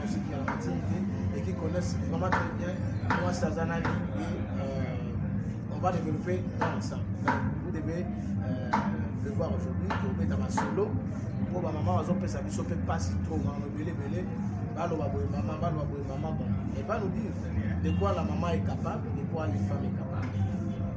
musique ya matini te et qui connaissent vraiment très bien moi sazana et euh, on va développer dans ensemble donc vous devez euh, le voir aujourd'hui tobeta basolo mpo bamama bazopesa biso mpe mpasi trop mama ebele ebele baloba boye mama baloba boye mama bon et va nous dire de quoi la maman est capable de quoi une femme est capable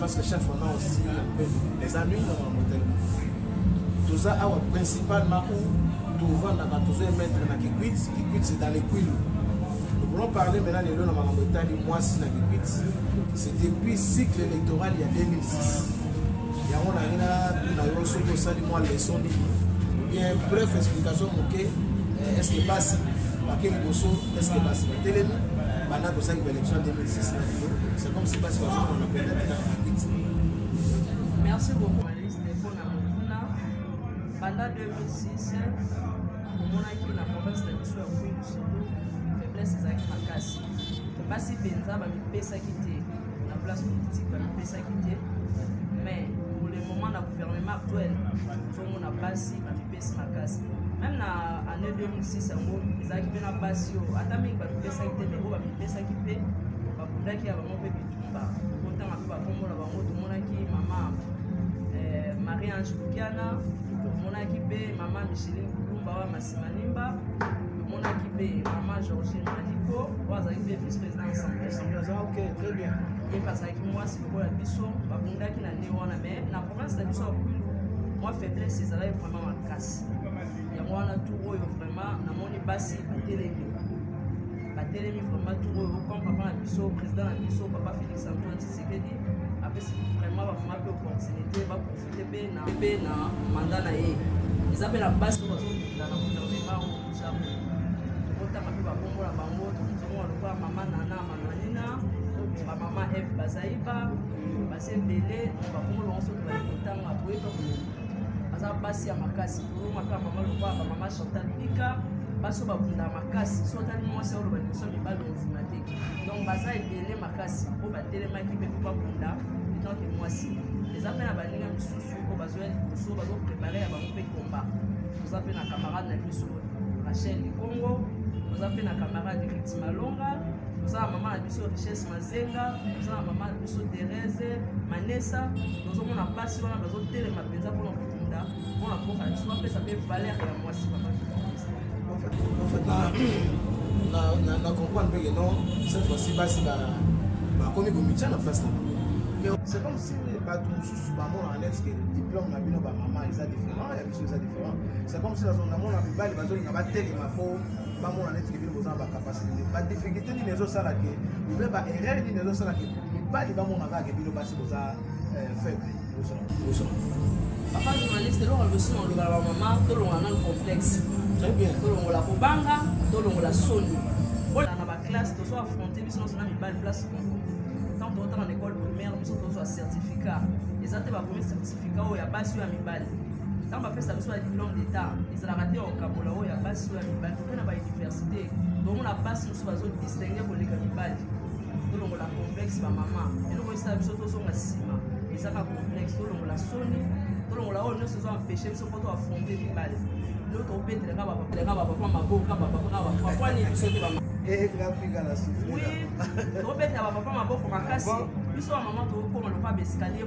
parce que chef on a aussi un peu les amis dans la modèle toza awa principalement où tovandaka tozo emettre na kikwit kikwit c'est dans les quilu nous voulons parler maintenant lelo na makambo etali mwasi na kikwit c'est depuis cycle électoral ya 2006 yango nangi natuna yo soki osali mwa leson nini obien bref explication moke eh, est ce que basi bake liboso est ce que basi batelemi banda kosaki ba élection 2006 na lelo c'est comme si basi bazomona mpenda te na bakiti merci beaucoup journaliste mpona mokuna banda 2006 omonaki na province na biso ya kwi lusudu faiblesse ezalaki makasi basi mpenza bamipesaki te na place politique bamipesaki te mais pour le moment na gouvernement actuel tozomona basi bamipesaki pesi makasi meme na année 2006 yango ezalaki mpe na basi oyo ata mingi bamipesaki te mpe oyo bamipesaki mpe babundaki ya bango mpe bitumba kotanga mpe bakombo na bango tomonaki mama eh, marie ange lukiana tomonaki mpe mama micheline kulumba wa masimanimba tomonaki mpe mama georgine maliko oyo azalaki mpe vice président assemblée ye mpe azalaki mwasi lokola biso babundaki na nde wana mai province na biso ya kwilu mwa faiblesse ezalaki vraiment makasi yango wana tour oyo vraiment namoni basi batelemi batelemi vraiment tour oyo comme papa na biso président na biso papa félix antoine tshisekedi apesi vraiment bamama mpe opportunité baprofite mpe na mpe na manda na ye eza mpe na basi oyo bazokunda na gouvernement oyo toza tokotanga mpe babongola bango tokozomona lokola mama nana mananina bamama eve bazaiba sembele bakolo yango soki bali kotanga koyeba aza basi ya makasi kolonga mpe mama lokola bamama chantal bika basi oyo babunda makasi so otali mwasi oloba liboso mibali ondima te donc baza ebele makasi oyo batelemaki mpe mpo babunda etanke mwasi eza mpe na baninga mosusu oyo bazoya liboso bazoprepare ya bango mpe komba toza mpe na camarade na biso rachel likongo toza mpe na camarade riti malonga toza na mama na biso richesse mazenga toza na mama biso Therese Manessa tozomona basi wana bazotelema mpenza mpona kokunda mpona mboka na biso bapesa mpe valeur ya mwasi papa na comprendre mpe keno cette fois-ci basi bakomi komitya na place na bango c'est comme si bato mosusu bamonaka neti ke diplôme na bino bamama eza différent ya biso eza différent c'est comme si nazonamona mibali bazolinga batelema mpo bamona neti bino boza na bacapacité te badifficulté nini ezosala ke obe baerreur nini ezosala ke mibali bamona kaka ke bino basi boza euh, faible liboso na liboso papa journaliste eloko liboso na olobala bamama tolongola nano complexe très bien tolongola kobanga tolongola soni ola na baklasse tozo affronte biso nyonso na mibali place moko ntango totanga na école primaire biso tozwa certificat eza te bakomi certificat sika oyo ya basi oyo ya mibali ntango bapesa biso ya diplome d'état ezalaka te okabola oyo ya basi oyo ya mibali mpe na bauniversité tomona basi mosusu bazodistingue koleka mibali tolongola complexe bamama eloko esala biso tozonga nsima ezaka complexe tolongola soni tolongola oyo nyonso ezo empêche biso mpo toafronte mibali leo tobetelaka bapapelaka bapapa maboko ka bapapa ka bapapa nini biso te bama tobetela bapapa maboko makasi biso bamama tokokoma lokola baescalier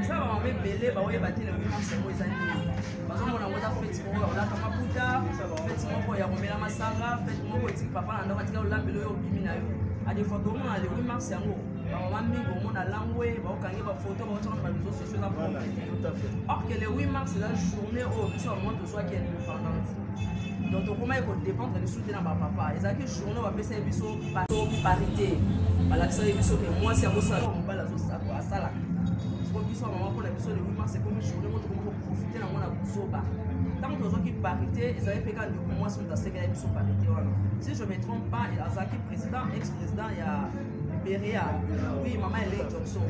eza bamama ebele baoyeba te lelo mimisi yango eza nini bazomona yango eza feti moko ya kolata maputa feti moko ya komela masanga feti moko etiki papa na ndako atika olambeli oyo obimi na yo adefois toomona le 8 mars yango bamama mingi omona langwe baokangi bafoto baotiaka na bareseau sociaux eza or que le 8 mars eza journée oyo biso bamama soki indépendante donc tokomaki kodépendre lisusu te na bapapa ezalaki journaux bapesaki biso bato parité balakisaki biso ke mwasi akosala mobali asalaka siko biso ya mama mpona biso lewi mars ekomi journée mo tokomi koprofite nango na kozoba ntango tozwaki parité ezali mpe ka ndeko mwasi moto asekelaki biso parité wana si je me trompe pas azalaki président ex président ya beria oui mama elei johnson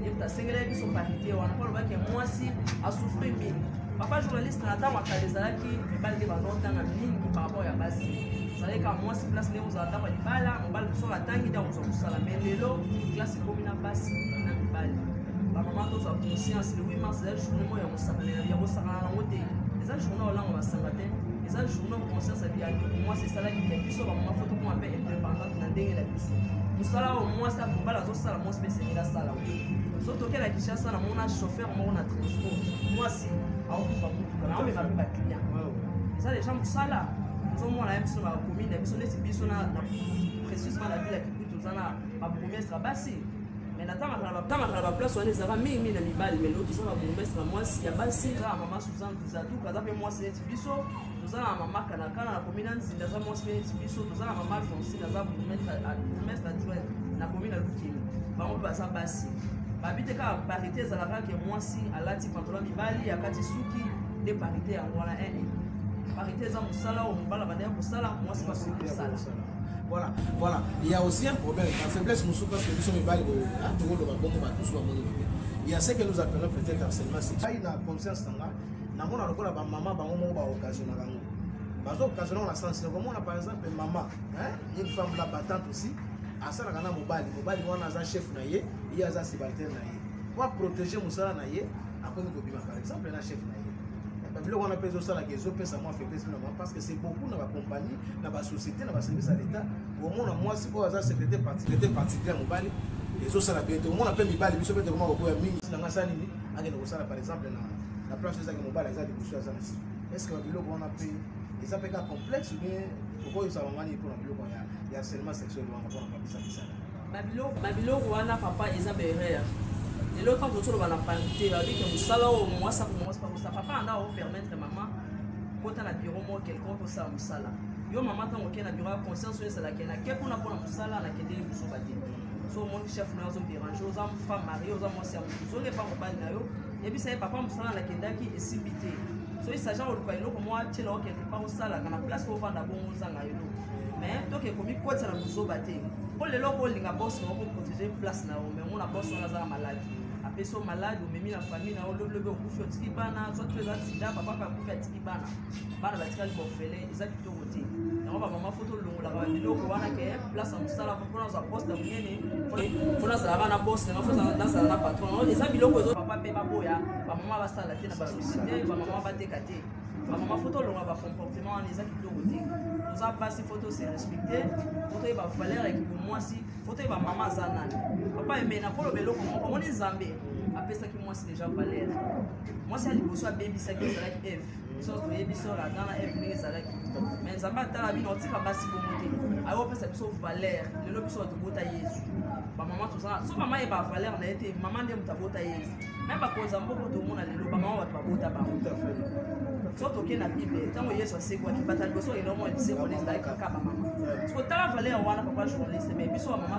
ye moto asengelaki biso parité wana mpo alobaki mwasi asouffri mingi papa journaliste na ntango ya kala ezalaki mibali nde bazotanga mingi par rapport ya basi ezalaki kaka mwasi place ndenge ozala ntango ya libala mobali mosusu oyo atangi nde akozwa kosala mai lelo klase ekomi na basi na mibali bamama tozwa conscience le 8 mars ezali journée moko ya kosakana ya kosakana yango te eza journée olanga basanga te eza journée conscience ya mwasi esalaki ya biso bamama fo tokoma mpe indépendante na ndenge na biso mosala oyo mwasi akobala azosala mwasi mpe esengeli asala so tokela kinshasa namona chauffeur moko na transport mwasi aokufa motuka na omema mpe baclient eza deja mosala ozomona ya biso na commune ya biso neti biso na précisement na ville ya kibuti oza na babourgmestre ya basi mais natangaka na baplace wana ezalaka mingi mingi na mibali mais leo toza na bourgmestre ya mwasi ya basi kaka mama suzan duzatuka aza mpe mwasi neti biso toza na mama kanakana nakomi na nzinda aza mwasi mpe neti biso toza na mama alfonsine aza bourgmestre adjoint nakomi na lukeli bango mpe baza basi babi te kaka parité ezalaka ke mwasi alati pantola mibali akati suki nde parité yango wana ee parité eza mosala oyo mobala bandaki kosala mwasi basoki kosala voilà voilà il y a aussi un problème la faiblesse mosusu parce que biso mibali tokoloba bongo bato mosusu bamoni mabe il y a ce que nous appelons peut-être harcèlement sexuel na conscience na nga namona lokola bamama bango moko baokasionaka yango bazokasionaka na sense nakomona par exemple mama une femme la batante aussi asalaka na mobali mobali wana aza chef na ye ye aza sibalter na ye po aprotege mosala na ye akomi kobima par exemple na chef na ye biloko wana mpe ezosalaka ezopesa mwa faiblesse na bango parce que c'est beaucoup na bacompagnie na basociété na baservice ya l'état omona mwasi oyo aza secrétaire particulier mobali ezosala bien te omona mpe mibali biso mpe tokoma kokoya mingi na ngai sa nini akende kosala par exemple na na place ezaki mobali aza liboso aza na sika est ce que babiloko wana mpe eza mpe ka complexe ou bien okoyisa bango nini mpo na biloko ya ya harcèlement sexuel wana mpo na papisa misala babiloko babiloko wana papa eza baerreur lelo ntango toki toloba na parité babike mosala oyo mwasi akomwasi bakosa papa anda opermettre mama kota na biro moko quelconque osala mosala yo mama ntango okei na biro ya conscience oyo ezalaki nakei kuna mpo na mosala nakendeli kozoba te so omoni chef na ozo dérange oza femme marie oza mwasi ya moto ozolepa mobali na yo yebisa ye papa mosala nakendaki esimbi te so esaja koluka eloko mwa tyela yo quelque part osalaka na place ovanda bongo ozanga eloko mais toke komikotisa na bozoba te mpo lelo okolinga bos na okoprotege place na yo mais omona bos wana azala malade apesi yo malade omemi na famille na yo lobilobi okufi otiki bana soit oza sida papa mpe akufi atiki bana bana batikali bofele eza kitoko yango bamama fo tolongolaka babiloko wana ke place ya mosala mpona ozwa poste ya monene mpona azalaka na bosse nga fozala na patron eza biloko ezo papa mpe baboya bamama basala te na basosiete bamama bateka te bamama fo tolonga bacomportement wana eza kitoko te toza basi fo tose respecte fo toyeba valeur ya kibomwasi fo toyeba mama aza nani papa eme nakoloba eloko moko omoni nzambe apesaki mwasi deja valeur mwasi ya liboso abebisaki ezalaki eve biso toyebi biso na dana eve ndenge ezalaki me nzambe atala bino otika basi bongo te ayo opesa biso valeur lelo biso tobota yezu bamama tozala so mama ye bavaleur na ye te mama nde moto abota yezu me bakonzi ya mboko tomona lelo bamama bato babota bango so toke na bible ntango yesu asekwaki bata liboso elongo ya lisekoli ezalaki kaka bamama sokotala valeur wana papa journaliste me biso bamama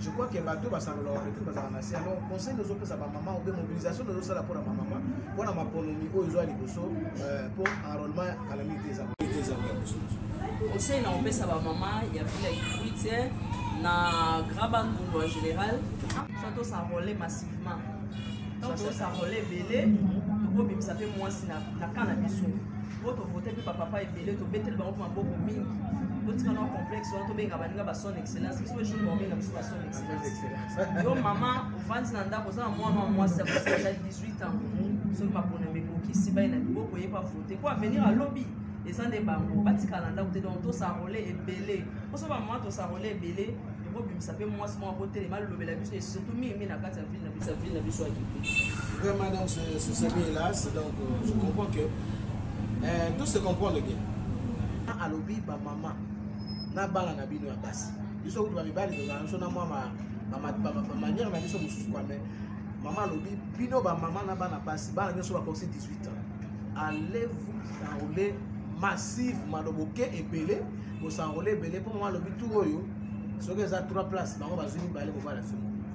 je crois que bato basangola bapetit bazala na se alors conseil nozopesa bamama obe mobilisation nozosala mpo na bamama mpo na maponomi oyo ezwa liboso euh, mpo enrôlement kalami te eza conseil na kopesa bamama ya vila ikwite na graba ndundu en général so tosarole massivement ntango tosarole ebele tokobimisa mpe mwasi na kaa na biso po tovote mpe bapapa ebele tobeteli bango mpe maboko mingi totika na complexe wana tobenga baninga ba son excellence biso jour baobenga biso ba son excellence yo mama ofandi na ndako oza na mwana wa mwasi akosala 18 ans soki mapona mekokisi bai na liboko oyeba vote mpo avenir alobi eza nde bango batikala ndako te donc tosarole ebele mposo bamama tosarole ebele ekobimisa mpe mwasi moko akotelema alobela biso surtout mingi mingi na kati ya ville sa vie na biso akite vraiment donc ce semi hélas donc euh, je comprends que euh, tout se comprend bien ah, alobi bamama na bana na bino ya basi biso kutu bamibali tozala biso na mwa bamanière na biso mosusu kwa mai mama alobi bino bamama na bana basi bana nyonso bakosi 18 ans allez vous enrouler massive maloboke ebele bosanrole ebele mpo mama alobi tour oyo soki eza 3 place bango bazwi mibale kobala somo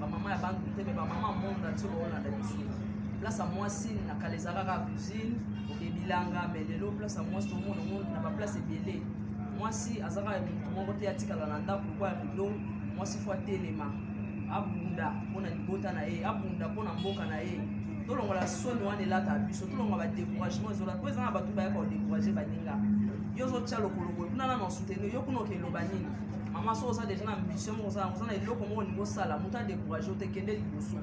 bamama ya bantu te me bamama monde ati baolanda biso place ya mwasi na kala ezaka kaka cuisine oke bilanga me lelo place ya mwasi tomona ngo na baplace ebele mwasi aza kaka motu moko te atikala na ndako lokwa ya rido mwasi fo atelema abunda mpo na libota na ye abunda mpo na mboka na ye tolongola soni wana elata biso tolongola badecouragement ezolata mpo eza na bato bayaka kodecourage baninga yo ozotya lokolo boye kuna nano soutenir yo kuna okeloba nini mama soki oza deja na ambition moko oza oza na eloko moko olingi osala moto adecourage ote kende liboso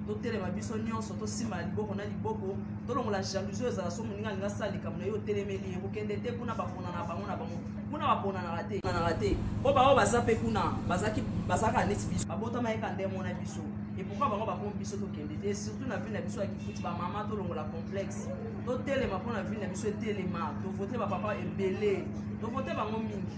totelema biso nyonso tosimba na liboko na liboko tolongola jalousie oyo ezala so moninga alingi asala likambo na ye otelemeli ye kokende te kuna bapona na bango na bango kuna baponanaka te ponanaka te mpo bango baza mpe kuna bazalaka neti biso babotama yeka nde mona biso epokwa bango bakomi biso tokende te surtout na ville na biso ya kifuti bamama tolongola complexe totelema mpo na ville na biso etelema tovote bapapa ebele tovote bango mingi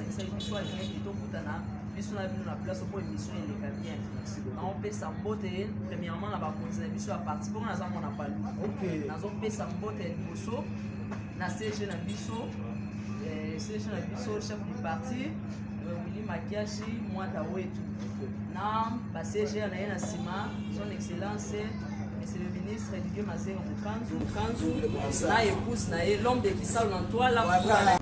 biso na bino na place mpo émission eleka bien naopesa mbote premièrement na bakonzi na biso ya parti mpo naza mona palu nazopesa mbote ya liboso na cg na biso eh, cg na biso chef du parti eh, wili makiashi mwata wetu na bacg na ye na nsima son excellence monsieur le ministre didier mazenga mokanzu mokanzu na épouse na ye l'homme de kisalo na ntwala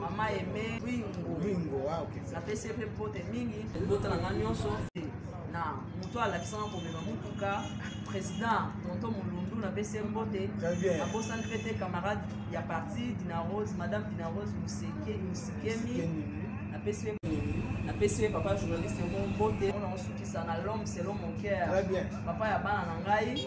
mama eme ringo ah, napesi mpe mpote mingi libota na nga nyonso na moto alakisanga komema motuka président tonto molundu napesi ye mbote nabosani mpe te camarade ya parti dinarose madame dinarose mosikemi napesi ye napesi ye papa journaliste yango mbote ona osukisa na l'homme selon mon cœur papa ya bana na ngai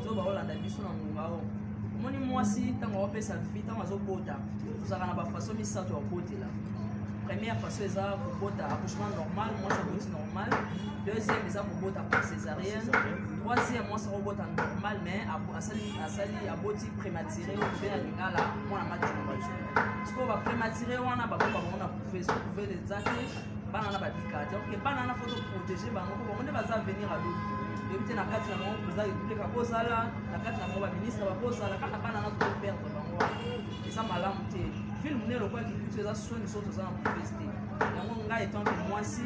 ozo bakolanda biso na ngonga oyo omoni mwasi ntango akopesa vi ntango azobota tozalaka na bafaso misato ya kobotela première faso eza kobota accouchement normal mwasi aboti normal deuxième eza kobota par césarienne troisième mwasi akobota normal mais asali asali aboti prématuré oyo mpe na lingala mwana matinobajo sikoyo baprématuré wana baboko bango na couve so couve eza te bana na babika te oke bana na foto protege bango po bango nde baza avenir ya lobi toyebi te na kati na bango président république akozala na kati na bango baministre bakozala kaka bana na tokoperdre bango wana eza malamu te filme ne lokola kibitu eza soni so toza na mopesi te yango ngai etanke mwasi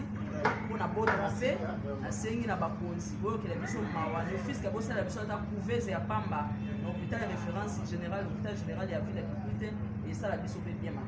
mpo na botama mpe nasengi na bakonzi boyokela biso mawa nefiske bosala biso ata couvese ya pamba na hôpital référence général hôpital général ya ville ya kibitu te esala biso mpe bien